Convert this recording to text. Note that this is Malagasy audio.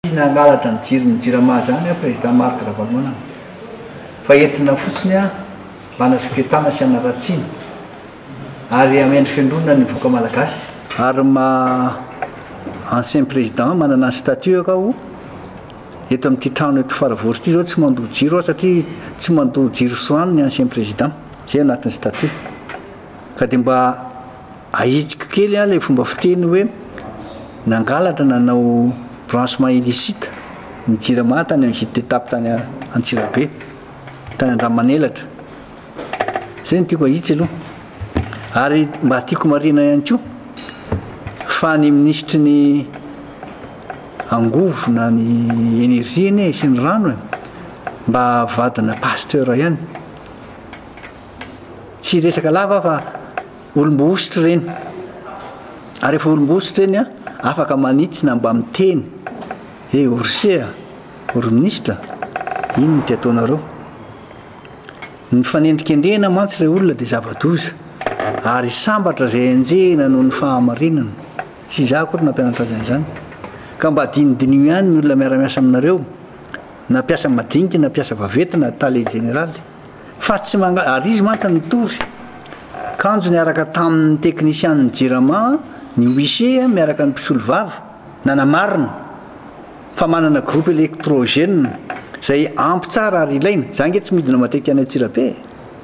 Tiany hangalatra ny jiron'ny jirama izany an Président Marc Ravalomanana fa entina fotsiny mba hanasoketana sy hanaratsiana ary hamendrofendroana ny voka Malagasy. Ary ma ancien président manana ny statut aho eto amin'ity trano eto Faravory ity zao tsy mandoa jiro aho satria tsy mandoa jiro sy rano ny ancien président zay anatin'ny statut ka dia mba Ahitsiko kely an ilay fomba fiteny hoe nangalatra nanao branchement illicite ny jirama tany amin'ny vide de tape tany Antsirabe, tany Andramanelatra. Izay no tiako ahitsy aloha. Ary mba tiako marihina ihany koa fa ny minisitry ny angovo na ny energie anie e sy ny rano e mba vadina pasteur ihany. Tsy hiresaka lava aho fa. Olom-bohosotry ireny. Ary efa olom-bohosotry ireny an, afaka manitsy na mba miteny he o ry se a, o ry minisitra, inn no te ataonareo. Ny mifanendrikendrehina mantsy ilay olona dia zava-doza, ary sambatra izay enjehina noho ny fahamarinana. Tsy izaho akory nampianatra azy an'izany. Ka mba dinidiniho ihany ny olona miara-miasa aminareo, na mpiasa madinika na mpiasa vaventy na tale jeneraly. Fa tsy manga, ary izy mantsy nitory kanjo niaraka tamin' ny teknisianin' ny Jirama ny Huissier miaraka ny mpisolovava nanamarina fa manana groupe électrogène izay ampy tsara ary ilaina. Za ange tsy midina matetika any Antsirabe e!